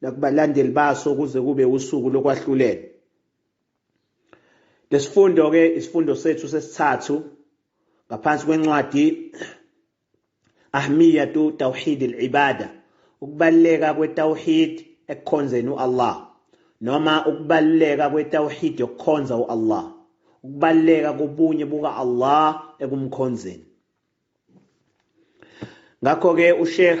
nakubalandeli baso kuze kube usuku lokwahlulela. Lesifundo ke isifundo sethu sesithathu ngaphansi kwencwadi Ahmiyatu Tawhid al-Ibada ukubaleka kwetawhid ekukhonzeni uAllah noma ukubaleka kwetawhid yokukhonza uAllah ukubaleka kobunye buka Allah ekumkhonzeni ngakho ke uSheikh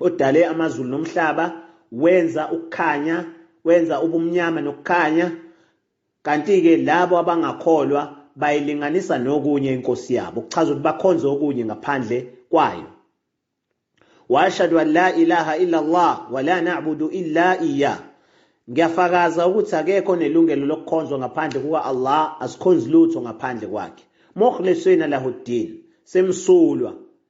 odale amazulu nomhlaba wenza ukukhanya wenza ubumnyama nokukhanya kanti-ke labo abangakholwa bayilinganisa nokunye inkosi yabo kuchaza ukuthi bakhonze okunye ngaphandle kwayo washhadu an la ilaha illa allah wala nabudu illa iya ngiyafakaza ukuthi akekho nelungelo lokukhonzwa ngaphandle kuka-allah asikhonzi lutho ngaphandle kwakhe mukhlisina lahuddin semsulwa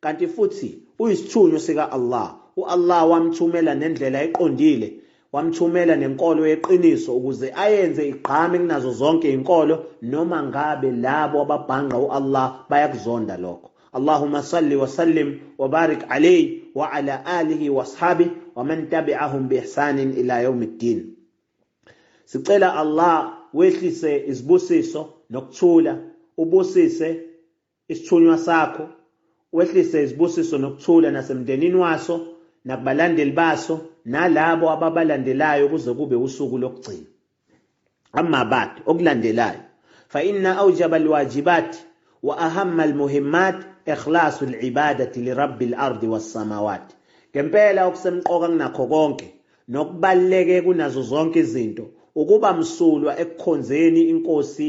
Kanti futhi uyisithunywa sika-Allah. U-Allah wamthumela nendlela eqondile, wamthumela nenkolo yeqiniso ukuze ayenze igqame kunazo zonke inkolo noma ngabe labo ababhangqa u-Allah bayakuzonda lokho. Allahumma salli wa sallim wa barik alayhi wa ala alihi wa ashabi wa man tabi'ahum bi ihsanin ila yawmiddin. Sicela Allah wehlise izibusiso nokuthula ubusise Isithunywa sakho, wehlise izibusiso nokuthula nasemndenini waso, nakubalandeli baso, nalabo ababalandelayo kuze kube usuku lokugcina. Amma ba'd, okulandelayo, fa inna awjaba al-wajibat wa ahamma al-muhimmat ikhlasu al-ibadati li Rabbi al-ardi was-samawat. Ngempela okusemqoka kunakho konke, nokubaluleke kunazo zonke izinto, ukuba msulwa ekukhonzeni iNkosi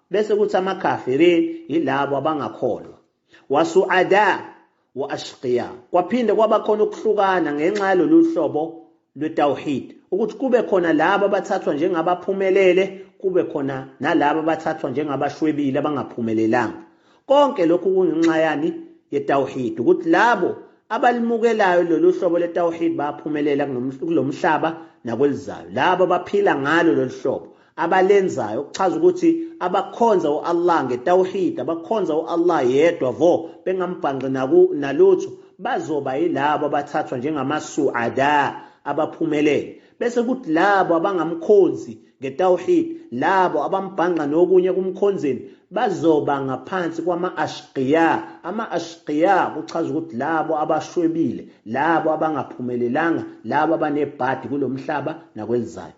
Bese kuthi amakhafirin yilabo abangakholwa. Wasuada wa ashqiya. Kwaphinde kwaba khona ukuhlukana ngenxa yalolu hlobo lwetawhid ukuthi kube khona labo abathathwa njengabaphumelele kube khona nalabo abathathwa njengabashwebile abangaphumelelanga. Konke lokhu kungenxa yani yetawhid ukuthi labo abalimukelayo lolu hlobo letawhid bayaphumelela kulomhlaba nakwelizayo. Labo abaphila ngalo lolu hlobo abalenzayo okuchaza ukuthi abakhonza uAllah ngetawhid abakhonza uAllah yedwa vo bengambhanqi naku nalutho bazoba yilabo abathathwa njengamasuada abaphumelele bese kuthi labo abangamkhonzi ngetawhid labo abambhanqa nokunye kumkhonzeni bazoba ngaphansi kwama-ashqiya ama-ashqiya kuchaza ukuthi labo abashwebile labo abangaphumelelanga labo abanebhadi kulo mhlaba nakwelizayo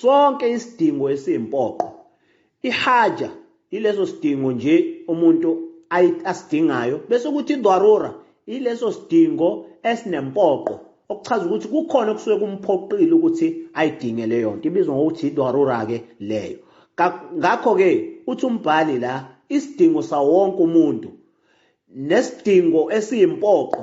Sonke isidingo esiyimpoqo. Ihaja ileso sidingo nje umuntu asidingayo bese kuthi idwarura ileso sidingo esinempoqo okuchaza ukuthi kukhona okusuke kumphoqile ukuthi ayidinge leyo nto ibizwa ngokuthi idwarura-ke leyo ngakho-ke uthi umbhali la isidingo sawonke umuntu nesidingo esiyimpoqo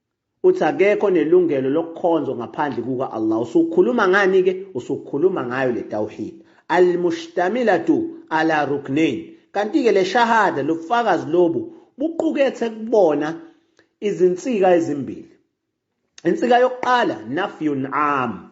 Uthi akekho onelungelo lokukhonzwa ngaphandle kuka Allah. Usukhuluma ngani ke? Usukhuluma ngayo le tawhid. Al-mushtamilatu ala ruknain. Kanti ke le shahada lobufakazi lobu buqukethe kubona izinsika ezimbili. Insika yokuqala nafyun am.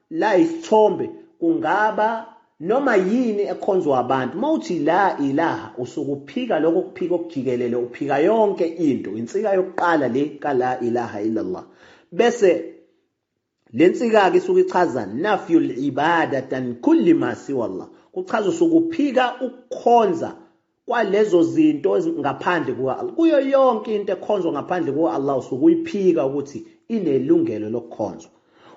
La isithombe kungaba noma yini ekhonzwa abantu. Uma uthi la ilaha usuke uphika lokho kuphika okujikelele, uphika yonke into. Insika yokuqala le ka la ilaha illallah. Bese le nsika-ke isuke ichaza nafyul ibadatan kulli ma siwallah. Kuchaza usuke uphika ukukhonza kwalezo zinto ngaphandle kuka-Allah kuyo yonke into ekhonzwa ngaphandle kuka-Allah usuke uyiphika ukuthi inelungelo lokukhonzwa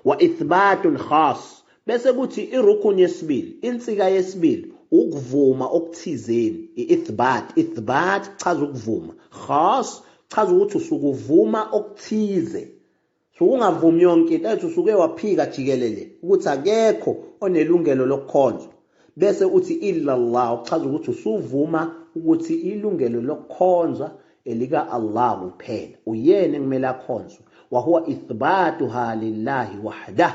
wa ithbatun khas bese kuthi irukun yesibili insika yesibili ukuvuma okuthizeni i-ithbat ithbat kuchaza ukuvuma khas kuchaza ukuthi usukuvuma okuthize So ungavumi yonke into ethi usuke waphika jikelele ukuthi akekho onelungelo lokukhonzwa bese uthi illallah okuchaza ukuthi usuvuma ukuthi ilungelo lokukhonzwa elika Allah kuphela uyena ekumele akhonzwe wahuwa ithbatuha lillahi wahdah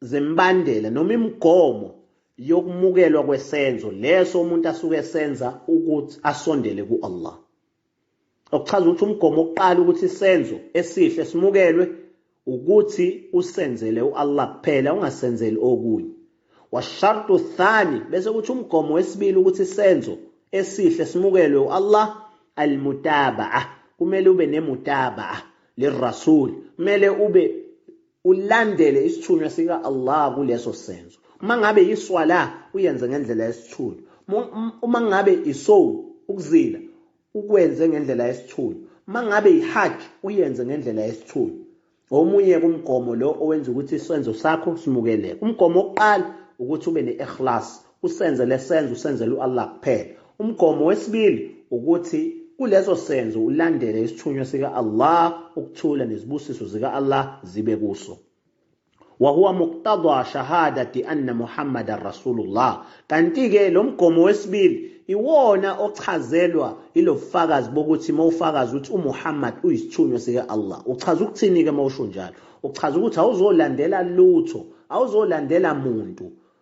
zembandela noma imigomo yokumukelwa kwesenzo leso umuntu asuke esenza ukuthi asondele ku-Allah okuchaza ukuthi umgomo oqala ukuthi isenzo esihle simukelwe ukuthi usenzele u-Allah kuphela ungasenzeli okunye washartu thani bese kuthi umgomo wesibili ukuthi isenzo esihle simukelwe u-Allah almutabaa kumele ube nemutabaa lirasul kumele ube Ulandele isithunywa sika Allah kuleso senzo. Uma ngabe yiswala uyenze ngendlela yesithunywa. Uma ngabe isow ukuzila ukwenze ngendlela yesithunywa. Uma ngabe yihajj uyenze ngendlela yesithunywa. Omunye kumgomo lo owenza ukuthi isenzo sakho simukeleke. Umgomo wokuqala ukuthi ube ne-ikhlas, Usenze lesenzo usenzela u-Allah kuphela. Umgomo wesibili ukuthi kuleso senzo ulandele isithunywa sika Allah ukuthula nezibusiso zika Allah zibe kuso. Wahuwa muqtadwa shahadati anna Muhammadan Rasulullah. Kanti-ke lo mgomo wesibili iwona ochazelwa ilobufakazi bokuthi uma ufakaza ukuthi uMuhammad uyisithunywa sika Allah. Uchaza ukuthini-ke uma usho njalo? Uchaza ukuthi awuzolandela lutho, awuzolandela muntu.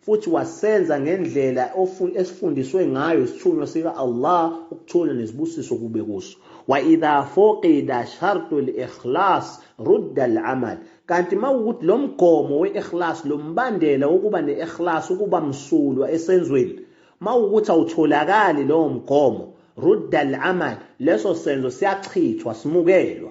Futhi wasenza ngendlela esifundiswe ngayo isithunywa sika Allah ukuthula nezibusiso kube kuso. Wa idha fuqida shartu al-ikhlas rudda al-amal. Kanti makukuthi lo mgomo we-ikhlas, lo mbandela wokuba ne-ikhlas, ukuba msulwa esenzweni, makukuthi awutholakali lowo mgomo, rudda al-amal, leso senzo siyachithwa, simukelwa.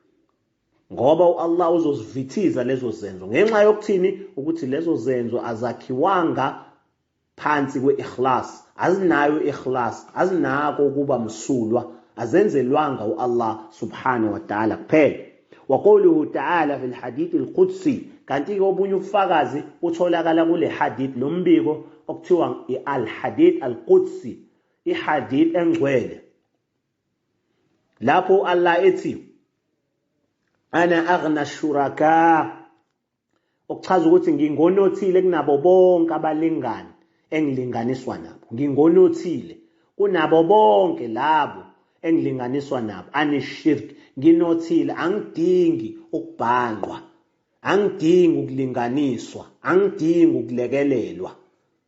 ngoba uAllah uzozivithiza lezo zenzo ngenxa yokuthini ukuthi lezo zenzo azakhiwanga phansi kwe-ikhlas azinayo i-ikhlas azinako ukuba msulwa azenzelwanga uAllah subhanahu wa ta'ala kuphela waquluhu ta'ala fil hadith al-qudsi kanti ke obunye ubufakazi utholakala kule hadith lombiko okuthiwa i-al-hadith al-qudsi ihadith engcwele lapho Allah ethi ana aghna shuraka okuchaza ukuthi ngingonothile kunabo bonke abalingani engilinganiswa nabo ngingonothile kunabo bonke labo engilinganiswa nabo anishirk nginothile angidingi ukubhangqwa angidingi ukulinganiswa angidingi ukulekelelwa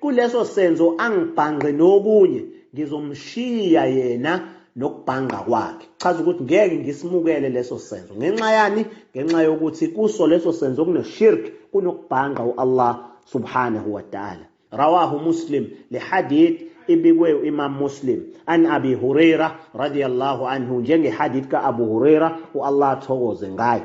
Kuleso senzo angibhangqe nokunye ngizomshiya yena nokubhangqa kwakhe. Chaza ukuthi ngeke ngisimukele leso senzo. Ngenxa yani? Ngenxa yokuthi kuso leso senzo kuneshirk, kunokubhangqa uAllah subhanahu wa ta'ala. Rawahu Muslim le hadith ibikwe uImam Muslim an Abi Huraira radiyallahu anhu njenge hadith ka Abu Huraira uAllah athokoze ngaye.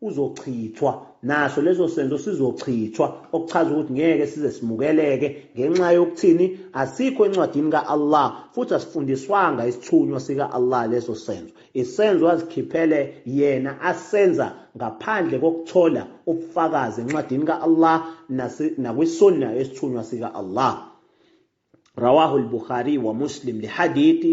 uzochithwa, naso leso senzo sizochithwa, okuchaza ukuthi ngeke size simukeleke, ngenxa yokuthini? Asikho encwadini ka-Allah, futhi asifundiswanga isithunywa sika-Allah leso senzo, isenzo azikhiphele yena asenza ngaphandle kokuthola ubufakazi encwadini ka-Allah nakwiSunnah yesithunywa sika-Allah. Rawahu al-Bukhari wa Muslim, le hadithi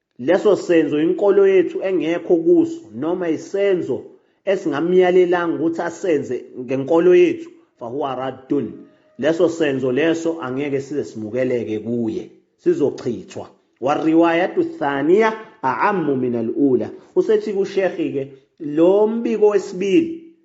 Leso senzo inkolo yethu engekho kuso noma isenzo esingamyalelanga ukuthi asenze ngenkolo yethu, fahuwa raddun, leso senzo leso angeke size simukeleke kuye, sizochithwa. Warriwayatu thaniya a'ammu min al-ula. Usethi kuShekhi-ke, lo mbiko wesibili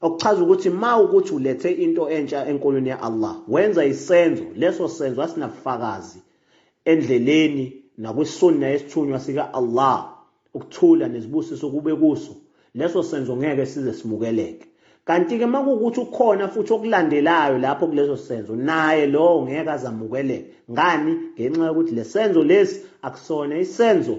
okuchaza ukuthi ma ukuthi ulethe into entsha enkonweni ya-Allah wenza isenzo leso senzo asinabufakazi endleleni nakwisunna yesithunywa sika-Allah ukuthula nezibusiso kube kuso leso senzo ngeke size simukeleke kanti-ke uma kuwukuthi ukhona futhi okulandelayo lapho kuleso senzo naye lowo ngeke azamukeleke ngani ngenxa yokuthi le senzo lesi akusona isenzo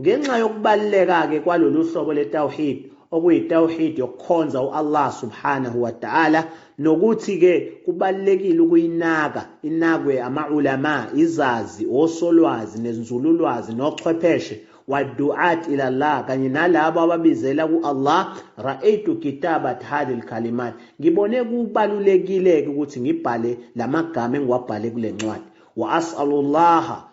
Ngenxa yokubaluleka-ke kwalolu hlobo le-tawhid, okuyi-tawhid yokukhonza u-Allah subhanahu wa ta'ala, nokuthi-ke kubalulekile ukuyinaka, inakwe ama-ulama, izazi, osolwazi, nenzululwazi, nochwepheshe, wa-du'at ila Allah, kanye nalabo ababizela ku-Allah, Ra'aytu kitabat hadhi l-kalimat, ngibone kubalulekile-ke ukuthi ngibhale lamagama engiwabhale kulencwadi, wa as'alu Allaha,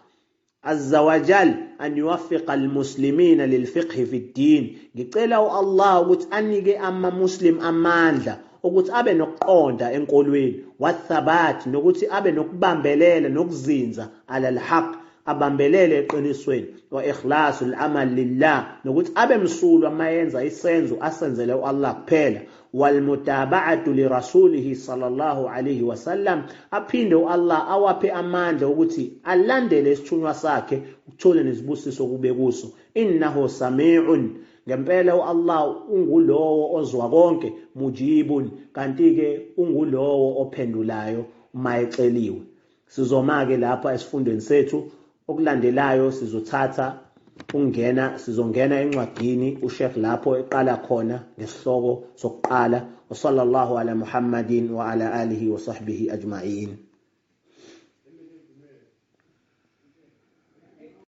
Azza wa Jal an yuwaffiqa al-muslimina lil-fiqhi fid-din. Ngicela u-Allah ukuthi anike ama-Muslim amandla ukuthi abe nokuqonda enkolweni, wa-thabat nokuthi abe nokubambelela nokuzinza, ala al-haqq, abambelele eqinisweni, wa ikhlasu al-amal lillah nokuthi abe msulwa mayenza isenzo asenzele u-Allah kuphela, walmutaba'atu li rasulihi sallallahu alayhi wasallam aphinde uAllah awaphe amandla ukuthi alandele isithunywa sakhe ukuthole nezibusiso kube kuso innahu sami'un ngempela uAllah ungulowo ozwa konke mujibun kanti ke ungulowo ophendulayo uma eceliwe Sizoma-ke lapha esifundweni sethu. Okulandelayo sizothatha ukungena, sizongena encwadini uSheikh lapho eqala khona ngesihloko sokuqala, Wasallallahu ala Muhammadin wa ala alihi wa sahbihi ajma'in.